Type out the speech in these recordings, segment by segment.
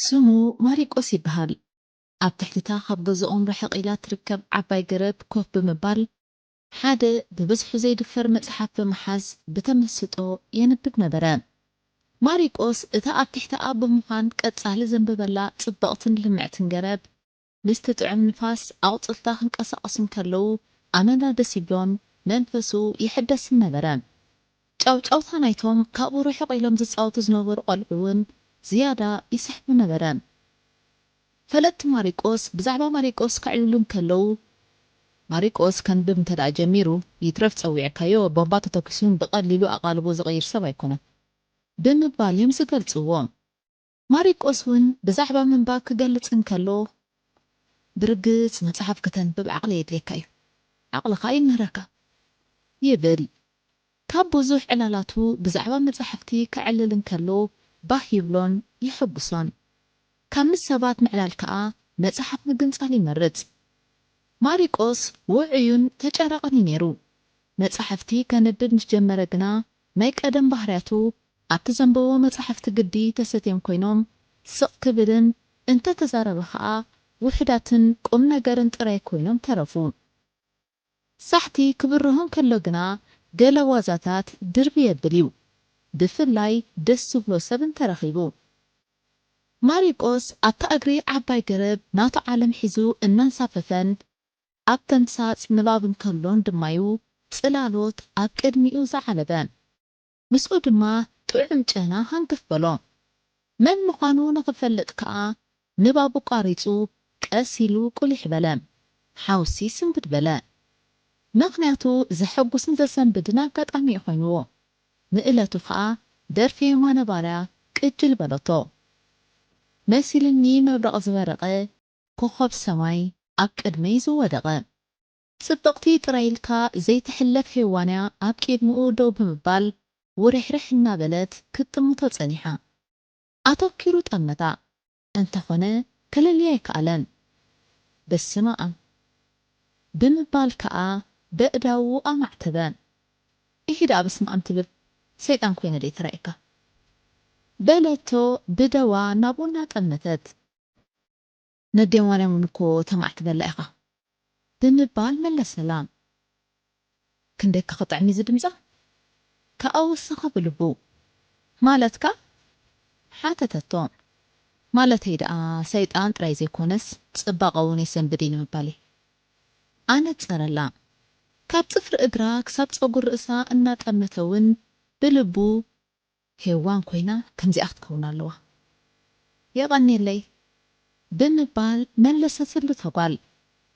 ስሙ ማሪቆስ ይበሃል። ኣብ ትሕቲ'ታ ካብ ገዝኦም ርሕቕ ኢላ እትርከብ ዓባይ ገረብ ኮፍ ብምባል ሓደ ብብዝሑ ዘይድፈር መጽሓፍ ብምሓዝ ብተመስጦ የንብብ ነበረ። ማሪቆስ እታ ኣብ ትሕቲኣ ብምዃን ቀጻሊ ዘንበበላ ጽብቕትን ልምዕትን ገረብ፣ ምስቲ ጥዑም ንፋስ ኣቑጽልታ ክንቀሳቐሱ እንከለዉ ኣመና ደስ ይብሎን መንፈሱ ይሕደስን ነበረ። ጫውጫውታ ናይቶም ካብኡ ርሕቕ ኢሎም ዝጻወቱ ዝነበሩ ቈልዑ'ውን ዝያዳ ይስሕቦ ነበረ። ፈለጥቲ ማሪቆስ ብዛዕባ ማሪቆስ ከዕልሉ እንከለዉ፣ ማሪቆስ ከንብብ እንተድኣ ጀሚሩ፣ ይትረፍ ጸዊዕካዮ ቦምባ ተተኲሱ ብቐሊሉ ኣቓልቦ ዝቕይር ሰብ ኣይኰነን። ብምባል እዮም ዝገልጽዎ። ማሪቆስ እውን ብዛዕባ ምንባብ ክገልጽ እንከሎ፣ ብርግጽ መጽሓፍ ከተንብብ ዓቕሊ የድልየካ እዩ፣ ዓቕልኻ ይምህረካ። ይብል። ካብ ብዙሕ ዕላላቱ ብዛዕባ መጻሕፍቲ ከዕልል እንከሎ ባህ ይብሎን የሐጉሶን። ካብ ምስ ሰባት ምዕላል ከኣ መጽሓፍ ምግንጻል ይመርጽ። ማሪቆስ ውዑዩን ተጫራቕን እዩ ነይሩ። መጻሕፍቲ ከንብብ ምስ ጀመረ ግና ናይ ቀደም ባህርያቱ ኣብቲ ዘንበቦ መጻሕፍቲ ግዲ ተሰትዮም ኮይኖም ስቕ ክብልን እንተ ተዛረበ ከኣ ውሑዳትን ቁም ነገርን ጥራይ ኮይኖም ተረፉ። ሳሕቲ ክብርሆ እንከሎ ግና ገለ ዋዛታት ድርብይ የብል እዩ፣ ብፍላይ ደስ ዝብሎ ሰብ እንተ ረኺቡ። ማሪቆስ ኣብታ እግሪ ዓባይ ገረብ ናቱ ዓለም ሒዙ እናንሳፈፈን ኣብ ተምሳጽ ንባብ እንከሎን ድማ'ዩ ጽላሎት ኣብ ቅድሚኡ ዝዓለበ። ምስኡ ድማ ጥዑም ጨና ሃንክፍ በሎ። መን ምዃኑ ንኽፈልጥ ከኣ ንባቡ ቋሪጹ ቀስ ኢሉ ቁሊሕ በለ። ሓውሲ ስንብድ በለ። ምኽንያቱ ዘሐጉስን ዘሰንብድን ኣጋጣሚ'ዩ ኮይንዎ። ንእለቱ ከኣ ደርፊ የማነ ባርያ ቅጅል በሎቶ። መሲሉኒ መብረቕ ዝበረቐ ኮኾብ ሰማይ ኣብ ቅድመይ ዝወደቐ። ጽብቕቲ ጥራይ ኢልካ ዘይትሕለፍ ሄዋን'ያ ኣብ ቄድምኡ ደው ብምባል ውርሕርሕ እናበለት ክትጥምቶ ጸኒሓ። ኣተኲሩ ጠመታ። እንተኾነ ከለልያ ኣይከኣለን። በስመኣም! ብምባል ከኣ በእዳዉ ኣማዕተበ። ኢሂ ደኣ በስመኣም ትብል ሰይጣን ኮይነ ደይ ተራእየካ? በለቶ ብደዋ ናብኡ እናጠመተት። ነዴ ማርያም እውን እኮ ተማዕ ትበላ ኢኻ ብምባል መለሰላ። ክንደይ እካ ክጥዕም እዩ እዚ ድምጻ ከኣ ወሰኸ ብልቡ። ማለትካ? ሓተተቶ። ማለተይ ደኣ ሰይጣን ጥራይ ዘይኮነስ ጽባቐ እውን የሰንብድ እዩ ንምባል እየ። ኣነጸረላ። ካብ ጽፍሪ እግራ ክሳብ ጸጉር ርእሳ እናጠመተ እውን ብልቡ ሄዋን ኮይና ከምዚኣ ክትከውን ኣለዋ የቀኔለይ ብምባል መለሰትሉ እታ ጓል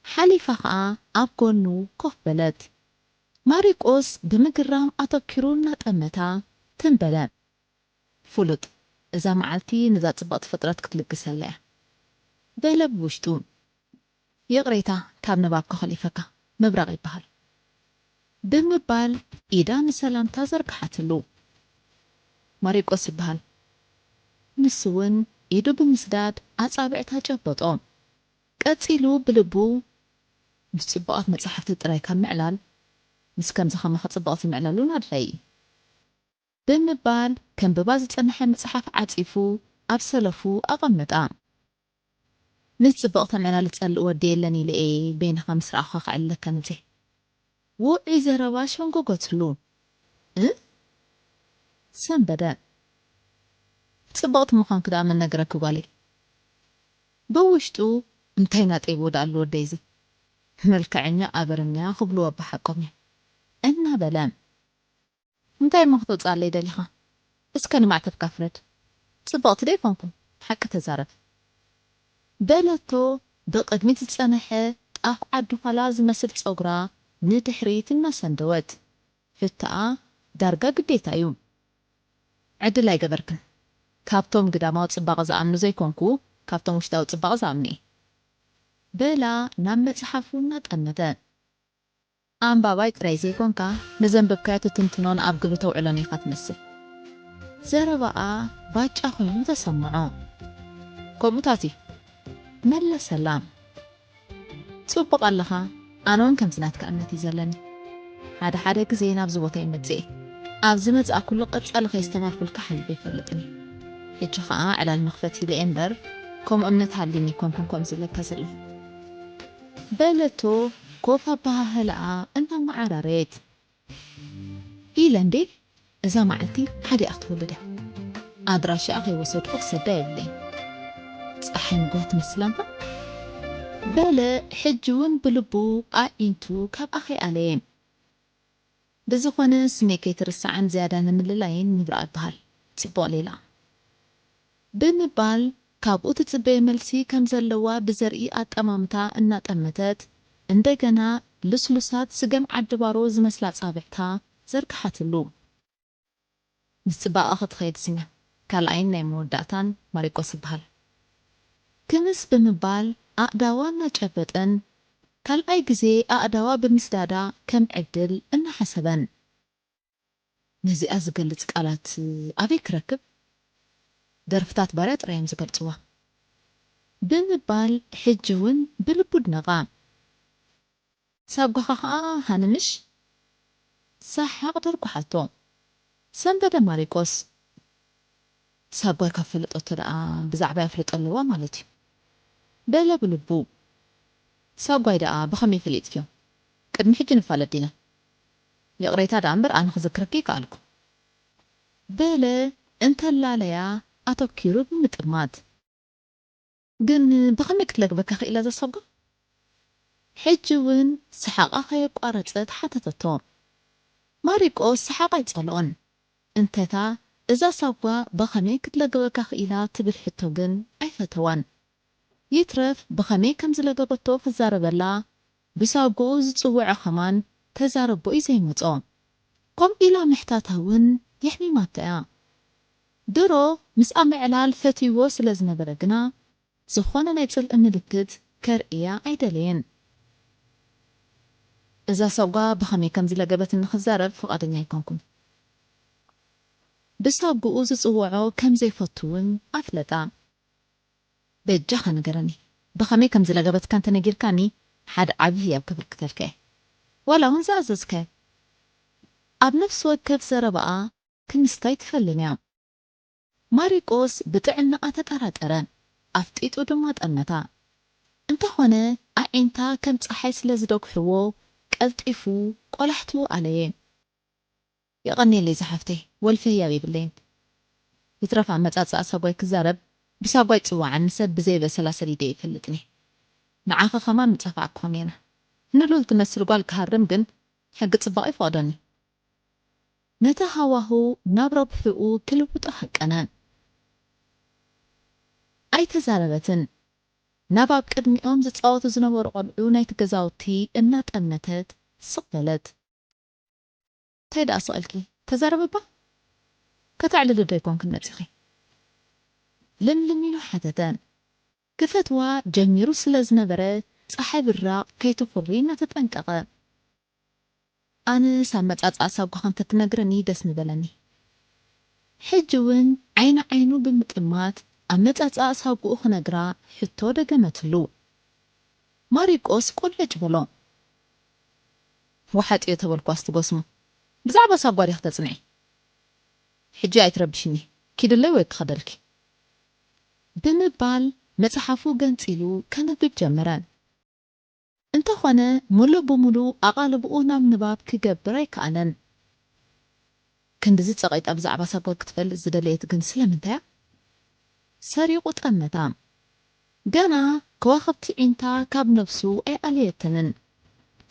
ሓሊፋ ከኣ ኣብ ጎኑ ኮፍ በለት ማሪቆስ ብምግራም ኣተኪሩ እናጠመታ ትም በለ ፉሉጥ እዛ መዓልቲ ነዛ ጽብቅቲ ፍጥረት ክትልግሰላ እያ በለ ብውሽጡ። ይቕሬታ ካብ ንባብ ከኾሊፈካ። ምብራቕ ይበሃል። ብምባል። ኢዳ ንሰላምታ ዘርግሓትሉ። ማሪቆስ ይበሃል። ንሱ'ውን ኢዱ ብምስዳድ ኣጻብዕታ ጨበጦ። ቀጺሉ ብልቡ ምስ ጽቡቓት መጻሕፍቲ ጥራይ ካብ ምዕላል ምስ ከምዚ ከማኻ ጽቡቓት ዝምዕለሉን ኣድላዪ ኢዩ። ብምባል ከንብባ ዝጸንሐ መጽሓፍ ዓጺፉ ኣብ ሰለፉ ኣቐመጣ። ነቲ ጽብቕ ተመናሊ ጸልእ ወዲ የለን ኢለ እየ በይንኻ ምስ ረኣኹኻ ክዕልለካ መጺኣ። ውዑይ ዘረባ ሸንጎጎትሉ። እ። ሰንበደ። ጽብቕቲ ምዃንኪ ደኣ መን ነገረኪ ጓለይ? ብውሽጡ እንታይ ናጠይብዎ ደኣ ኣሉ ወደይ'ዚ? መልከዐኛ ኣበርኛ ክብልዎ ኣባሓቆም እዮም። እናበለ። እንታይ እሞ ከተውጽኣለይ ደሊኻ እስከ ንማዕተብካ ፍረድ ጽብቕቲ ዶ ኣይኮንኩን ሓቂ ተዛረብ በለቶ ብቕድሚት ዝጸነሐ ጣፍ ዓዲ ዃላ ዝመስል ጸጉራ ንድሕሪት እናሰንደወት ፍታኣ ዳርጋ ግዴታ እዩ ዕድል ኣይገበርክን ካብቶም ግዳማዊ ጽባቐ ዝኣምኑ ዘይኮንኩ ካብቶም ውሽጣዊ ጽባቐ ዝኣምኑ እየ በላ ናብ መጽሓፉ እናጠመተ። ኣንባባይ ጥራይ ዘይኮንካ ንዘንበብካዮ ትትንትኖን ኣብ ግብሪ ተውዕሎን ኢኻ ትመስል። ዘረባኣ ባጫ ኮይኑ ተሰምዖ። ከምኡታት እዩ። መለሰላም። ጽቡቕ ኣለኻ፣ ኣነውን ከምዚ ናትካ እምነት እዩ ዘለኒ። ሓደ ሓደ ግዜ ናብዚ ቦታ ይመጽእ እየ። ኣብ ዝመጻእኩሉ ቀጻሊ ከየስተማርኩልካ ሓሊፈ ኣይፈልጥን እየ። ሕጂ ከኣ ዕላል መኽፈቲ ኢለ እየ እምበር ከምኡ እምነት ሃልዩኒ ኣይኮንኩን ከምዚ ዝብለካ ዘለኹ። በለቶ ኮፍ ኣበሃህላኣ እናመዓራረየት። ኢለ እንድየ እዛ መዓልቲ ሓዲኣ ክትወልድ እያ። ኣድራሻኣ ከይወሰድኩ ክሰዳ የብለይን። ጸሓይ ንግሆ ትመስል ኣንታ። በለ ሕጂ'ውን ብልቡ ኣዒንቱ ካብኣ ከይኣለየን። ብዝኾነ ስመይ ከይትርስዓን ዝያዳ ንምልላይን ምብራቕ ይበሃል ጽቡቕ ሌላ። ብምባል ካብኡ ትጽበዮ መልሲ ከም ዘለዋ ብዘርኢ ኣጠማምታ እናጠመተት እንደገና ልስሉሳት ስገም ዓዲ ባሮ ዝመስላ ኣጻብዕታ ዘርግሓትሉ። ምስ ጽባቀ ክትኸይድ ስመ ካልኣይን ናይ መወዳእታን ማሪቆስ ይበሃል። ክምስ ብምባል ኣእዳዋ እናጨበጠን ካልኣይ ግዜ ኣእዳዋ ብምስዳዳ ከም ዕድል እናሓሰበን። ነዚኣ ዝገልጽ ቃላት ኣበይ ክረክብ? ደርፍታት ባርያ ጥራይ እዮም ዝገልጽዋ። ብምባል ሕጂ'ውን ብልቡ ድነቓ። ሳጓኻ ከኣ ሃንምሽ ሳሓቕ ደርጉሓቶ ሰንበደ ማሪቆስ ሳጓይ ካብ ፈለጦቶ ደኣ ብዛዕባይ ኣፍልጦ ኣለዋ ማለት እዩ በለ ብልቡ ሳጓይ ደኣ ብኸመይ ፈሊጥክዮ ቅድሚ ሕጂ ንፋለጥ ዲና ይቕሬታ ደኣ እምበር ኣነ ክዝክረኪ ኣይከኣልኩ በለ እንተላለያ ኣተኪሩ ብምጥማት። ግን ብኸመይ ክትለግበካ ክኢላ እዛ ሳጓ? ሕጂ ውን ሰሓቓ ከየቋረጸት ሓተተቶ። ማሪቆስ ሰሓቕ ኣይጸልኦን። እንተ'ታ እዛ ሳጓ ብኸመይ ክትለግበካ ክኢላ ትብል ሕቶ ግን ኣይፈተዋን። ይትረፍ ብኸመይ ከም ዝለገበቶ ክዛረበላ ብሳጉኡ ዝጽውዐ ከማን ተዛረቦ ዩ ዘይመጾ ከምኡ ኢላ ምሕታታ ውን የሕሚማቶ እያ ድሮ ምስኣ ምዕላል ፈትይዎ ስለ ዝነበረ ግና ዝኾነ ናይ ጽልኢ ምልክት ከርእያ ኣይደለየን እዛ ሳጓ ብኸመይ ከም ዝለገበትኒ ክዛረብ ፍቓደኛ ኣይኮንኩን ብሳጉኡ ዝጽውዖ ከም ዘይፈቱ ውን ኣፍለጣ። በጃኻ ንገረኒ ብኸመይ ከም ዝለገበትካ እንተ ነጊርካኒ ሓደ ዓቢ ህያብ ከበርክተልካ እየ ዋላ ውን ዝኣዘዝካዮ ኣብ ነፍሲ ወከፍ ዘረባኣ ክምስታ ኣይትፈልን እያ። ማሪቆስ ብጥዕናኣ ተጠራጠረ ኣፍጢጡ ድማ ጠመታ እንተ ኾነ ኣዒንታ ከም ጸሓይ ስለ ዝደጉሕዎ ቀልጢፉ ቆላሕትኡ ኣለየ። የቐንየለይ ዝሓፍተይ ወልፊ ህያብ የብለይን ይትረፍ ኣመጻጽኣ ሳጓይ ክዛረብ ብሳጓይ ጽዋዓኒ ሰብ ብዘይ በሰላ ሰዲደዮ ይፈልጥኒ ንዓኺ ከማን ምጸፋዕኩኺ ኔረ ንሉል ትመስል ጓል ክሃርም ግን ሕጊ ጽባቕ ኣይፈቕዶንዩ ነቲ ሃዋሁ ናብ ረብሕኡ ክልውጦ ሃቀነ ኣይተዛረበትን ናብ ኣብ ቅድሚኦም ዝጻወቱ ዝነበሩ ቆልዑ ናይቲ ገዛውቲ እናጠመተት ስቕ በለት። ታይ ደኣ ስቅልኪ ተዛረቢ እባ ከተዕልሊ ዶ ኣይኮንክን መጺኪ ለምለም ኢሉ ሓተተ ክፈትዋ ጀሚሩ ስለ ዝነበረ ጸሓይ ብራቅ ከይትኩሪ እናተጠንቀቀ ኣነስ ኣመጻጽኣ ሳጓካ እንተትነግረኒ ደስ ምበለኒ ሕጂ ውን ዓይኒ ዓይኑ ብምጥማት ኣመጻጽኣ ሳጉኡ ክነግራ ሕቶ ደገመትሉ ማሪቆስ ቆለጭ በሎ ወሓጥዮ ተበልኳስ ትጎስሞ ብዛዕባ ሳጓ ዲኪ ተጽንዒ ሕጂ ኣይትረብሽኒ ኪድለይ ወይ ክከደልኪ ብምባል መጽሓፉ ገንጺሉ ከንብብ ጀመረ እንተ ኮነ ሙሉእ ብሙሉእ ኣቓልብኡ ናብ ንባብ ክገብር ኣይከኣለን ክንድዚ ጸቒጣ ብዛዕባ ሳጓ ክትፈልጥ ዝደለየት ግን ስለምንታያ? ሰሪቑ ጠመታ። ገና ከዋኽብቲ ዒንታ ካብ ነብሱ ኣይኣለየተንን።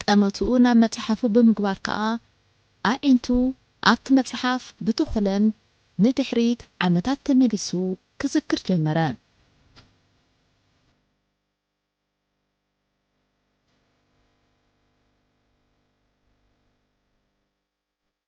ጠመትኡ ናብ መጽሓፉ ብምግባር ከኣ ኣዒንቱ ኣብቲ መጽሓፍ ብተኹለን ንድሕሪት ዓመታት ተመሊሱ ክዝክር ጀመረ።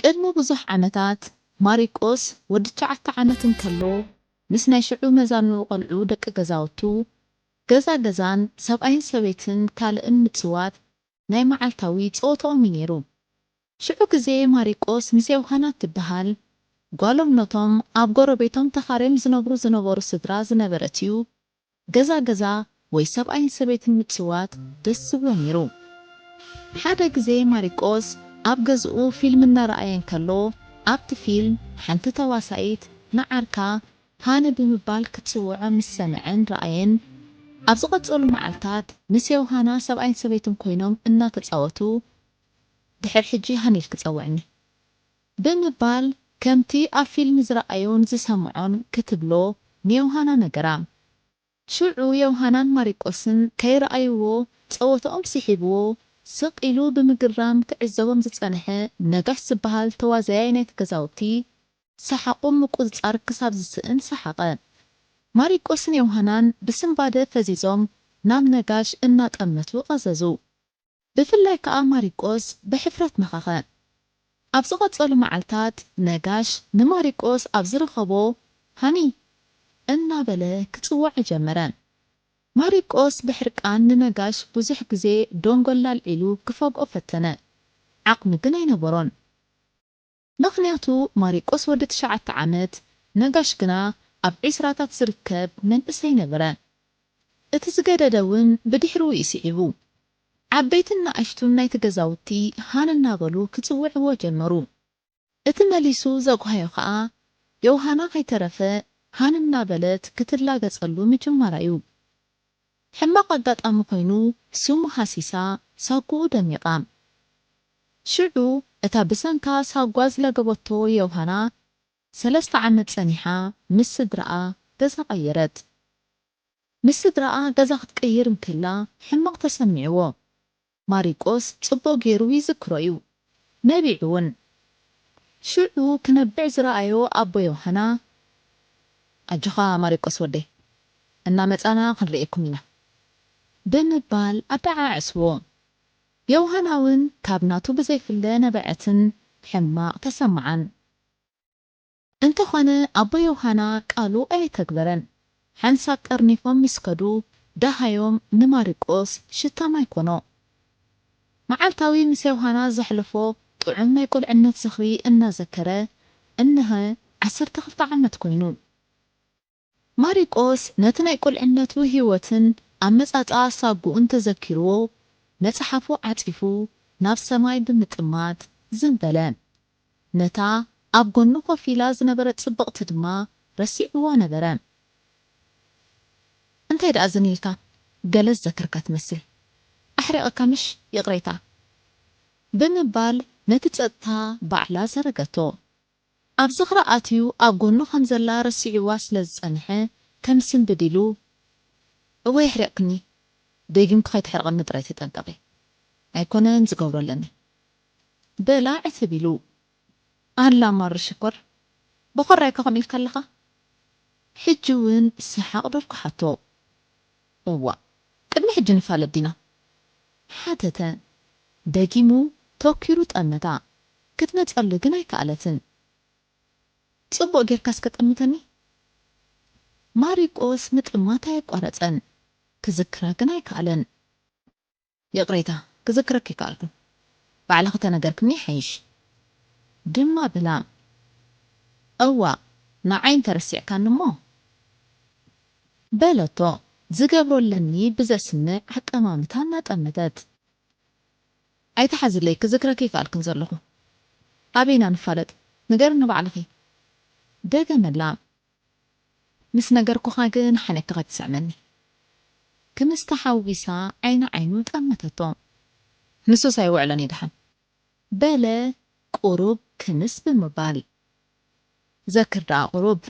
ቅድሚ ብዙሕ ዓመታት ማሪቆስ ወዲ ትሽዓተ ዓመት እንከሎ ምስ ናይ ሽዑ መዛኑ ቆልዑ ደቂ ገዛውቱ ገዛ ገዛን ሰብኣይን ሰበይትን ካልእን ምጽዋት ናይ መዓልታዊ ጸወትኦም እዩ ነይሩ። ሽዑ ግዜ ማሪቆስ ምስ የውሃና እትበሃል ጓሎም ነቶም ኣብ ጎረቤቶም ተኻርዮም ዝነብሩ ዝነበሩ ስድራ ዝነበረት'ዩ ገዛ ገዛ ወይ ሰብኣይን ሰበይትን ምጭዋት ደስ ዝብሎ ነይሩ። ሓደ ግዜ ማሪቆስ ኣብ ገዝኡ ፊልም እናረኣየ እንከሎ ኣብቲ ፊልም ሓንቲ ተዋሳኢት ንዓርካ ሃኒ ብምባል ክትጽውዖ ምስ ሰምዐን ረኣየን። ኣብ ዝቐጸሉ መዓልታት ምስ ዮውሃና ሰብኣይን ሰበይትን ኮይኖም እናተጻወቱ ድሕር ሕጂ ሃኒል ክጸውዕኒ። ብምባል ከምቲ ኣብ ፊልም ዝረኣዮን ዝሰምዖን ክትብሎ ንዮሃና ነገራ። ሽዑ ዮሃናን ማሪቆስን ከይረኣይዎ ጸወታኦም ስሒብዎ ስቕ ኢሉ ብምግራም ክዕዘቦም ዝጸንሐ ነጋሽ ዝበሃል ተዋዛያይ ናይቲ ገዛውቲ ሰሓቑ ምቁጽጻር ክሳብ ዝስእን ሰሓቐ። ማሪቆስን ዮሃናን ብስንባደ ፈዚዞም ናብ ነጋሽ እናጠመቱ ቀዘዙ። ብፍላይ ከኣ ማሪቆስ ብሕፍረት መኸኸ። ኣብ ዝቐጸሉ መዓልታት ነጋሽ ንማሪቆስ ኣብ ዝረኸቦ ሃኒ! እናበለ ክጽውዖ ጀመረ። ማሪቆስ ብሕርቃን ንነጋሽ ብዙሕ ግዜ ደንጎል ኣልዒሉ ክፈግኦ ፈተነ። ዓቕሚ ግን ኣይነበሮን። ምኽንያቱ ማሪቆስ ወዲ ትሽዓተ ዓመት፣ ነጋሽ ግና ኣብ ዒስራታት ዝርከብ መንእሰይ ነበረ። እቲ ዝገደደ ውን ብድሕርኡ እዩ ስዒቡ። ዓበይትን ንኣሽቱን ናይቲ ገዛውቲ ሃን እናበሉ ክጽውዕዎ ጀመሩ። እቲ መሊሱ ዘጕሃዮ ከኣ ዮውሃና ከይተረፈ ሃን እናበለት ክትላገጸሉ ምጅማራ'ዩ። ሕማቕ ኣጋጣሚ ኮይኑ ስሙ ሃሲሳ ሳጉኡ ደሚቓ። ሽዑ እታ ብሰንካ ሳጓ ዝለገበቶ ዮውሃና ሰለስተ ዓመት ጸኒሓ ምስ ስድራኣ ገዛ ቀየረት። ምስ ስድራኣ ገዛ ክትቅይር እንክላ ሕማቕ ተሰሚዕዎ። ማሪቆስ ጽቡቕ ገይሩ ይዝክሮ እዩ ነቢዑ ውን ሽዑ ክነብዕ ዝረኣዮ ኣቦ ዮሃና ኣጆኻ ማሪቆስ ወደይ እናመጻና ክንርእየኩም ኢና ብምባል ኣደዓዐስዎ ዮሃና ውን ካብ ናቱ ብዘይፍለ ነበዐትን ሕማቕ ተሰመዓን። እንተኾነ ኣቦ ዮሃና ቃሉ ኣየተግበረን። ሓንሳብ ጠርኒፎም ምስ ከዱ ደሃዮም ንማሪቆስ ሽታ ማይ ኮኖ። መዓልታዊ ምስ ዮሃና ዘሕልፎ ጥዑም ናይ ቁልዕነት ዝኽሪ እናዘከረ እነሀ ዓሰርተ ክልተ ዓመት ኮይኑ። ማሪቆስ ነቲ ናይ ቁልዕነቱ ህይወትን ኣመጻጽኣ ሳጉኡን ተዘኪርዎ መጽሓፉ ዓጺፉ ናብ ሰማይ ብምጥማት ዝን በለ። ነታ ኣብ ጎኑ ኮፍ ኢላ ዝነበረት ጽብቕቲ ድማ ረሲዕዋ ነበረ። እንታይ ደኣ ዝን ኢልካ ገለ ዝዘከርካ ትመስል ኣሕሪቐካ ምሽ ይቕሬታ። ብምባል ነቲ ጸጥታ ባዕላ ዘረገቶ። ኣብ ዝኽራ ኣትዩ ኣብ ጎኑ ከም ዘላ ረሲዕዋ ስለ ዝጸንሐ ከምስንብድ ኢሉ እወ የሕሪቕክኒ ደጊምኪ ከይተሕርቕኒ ጥራይ ተጠንቀቒ ኣይኮነን ዝገብሮ ኣለኒ በላ ዕትብ ኢሉ ኣላ ማሩ ሽኮር ቦኾራይካ ከምኡ ኢልካ ኣለኻ ሕጂ ውን ሰሓቕ ደርኩሓቶ እዋእ ቅድሚ ሕጂ ንፋለጥ ዲና? ሓተተ ደጊሙ ተኲሩ ጠመታ ክትመጸሉ ግን ኣይከኣለትን ጽቡቕ ጌርካ እስከ ጠምተኒ ማሪቆስ ምጥማት ኣየቋረጸን ክዝክራ ግን ኣይከኣለን። ይቕሬታ ክዝክረኪ ኣይከኣልኩን ባዕልኺ ተነገርክኒ ይሓይሽ ድማ ብላም እዋእ ንዓይ እንተረሲዕካኒ እሞ በለቶ ዝገብሮ ኣለኒ ብዘስምዕ ኣጠማምታ እናጠመተት ኣይትሓዝለይ ክዝክረኪ ኣይከኣልኩን ዘለኹ ኣበይ ኢና ንፋለጥ ንገርኒ ባዕልኺ ደገመላ ምስ ነገርኩኻ ግን ሓነኪኻ ትስዕመኒ ክምስ ተሓዊሳ ዓይኒ ዓይኑ ጠመተቶ ንሱስ ኣይውዕሎን እዩ ደሓን በለ ቁሩብ ክምስ ብምባል ዘክር ደኣ ቁሩብ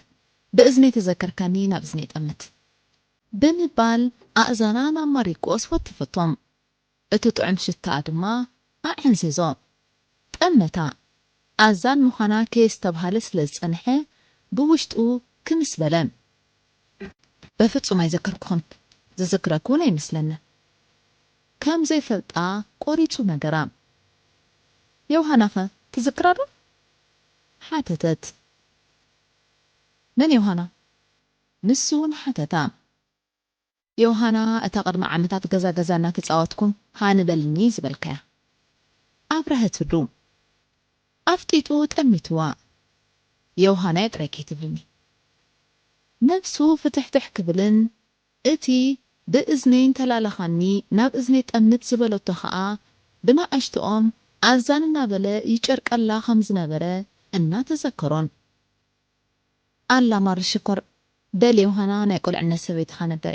ብእዝነይ ተዘከርካኒ ናብ እዝነይ ጠምት ብምባል ኣእዛና ናብ ማሪቆስ ወተፈቶ እቲ ጥዑም ሽታኣ ድማ ኣዐንዘዞ። ጠመታ። ኣዛን ምዃና ከየስተብሃለ ስለ ዝጸንሐ ብውሽጡ ክምስ በለ። በፍጹም ኣይዘከርኩኹን፣ ዝዝክረኪ'ውን ኣይመስለንን። ከም ዘይፈልጣ ቆሪጹ ነገራ። ዮውሃናኸ ትዝክራዶ? ሓተተት። መን ዮውሃና? ንሱ'ውን ሓተታ። ዮሃና እታ ቅድሚ ዓመታት ገዛ ገዛ እናተጻወትኩም ሃኒ በልኒ ዝበልካያ ኣብረሀትሉ ኣፍጢጡ ጠሚትዋ ዮሃናየ ጥራይ ከይትብልኒ ነብሱ ፍትሕትሕ ክብልን እቲ ብእዝነይ እንተላላኻኒ ናብ እዝነይ ጠምት ዝበለቶ ከኣ ብናኣሽትኦም ኣዛን እናበለ ይጨርቀላ ከምዝነበረ እናተዘከሮን ኣላ ማሪ ሽኮር በል ዮሃና ናይ ቁልዕነት ሰበይትኻ ነበረ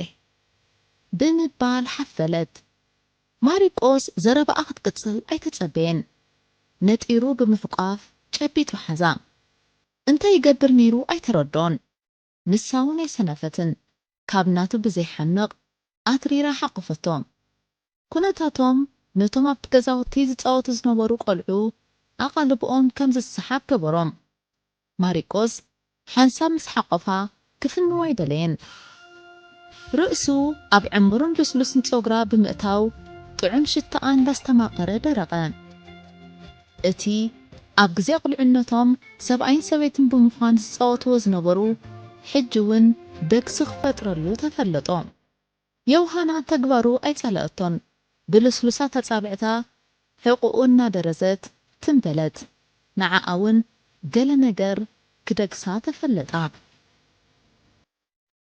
ብምባል ሓፈለት። ማሪቆስ ዘረባኣ ክትቅጽል ኣይተጸበየን ነጢሩ ብምሕቋፍ ጨቢጡ ሓዛ። እንታይ ይገብር ነይሩ ኣይተረድኦን ንሳውን ኣይሰነፈትን ካብ ናቱ ብዘይሓምቕ ኣትሪራ ሓቖፈቶም። ኵነታቶም ነቶም ኣብቲ ገዛውቲ ዝጻወቱ ዝነበሩ ቈልዑ ኣቓልቦኦም ከም ዝሰሓብ ገበሮም። ማሪቆስ ሓንሳብ ምስ ሓቖፋ ክፍንዋ ኣይደለየን። ርእሱ ኣብ ዕሙርን ልስሉስን ጸጕራ ብምእታው ጥዑም ሽታኣ እንዳስተማቐረ ደረቐ። እቲ ኣብ ግዜ ቁልዕነቶም ሰብኣይን ሰበይትን ብምዃን ዝጻወትዎ ዝነበሩ ሕጂ ውን ደግሲ ክፈጥረሉ ተፈለጦ። ዮውሃና ተግባሩ ኣይጸለኣቶን። ብልስሉሳት ኣጻብዕታ ሕቖኡ እናደረዘት ትም በለት። ንዓኣ ውን ገለ ነገር ክደግሳ ተፈለጣ።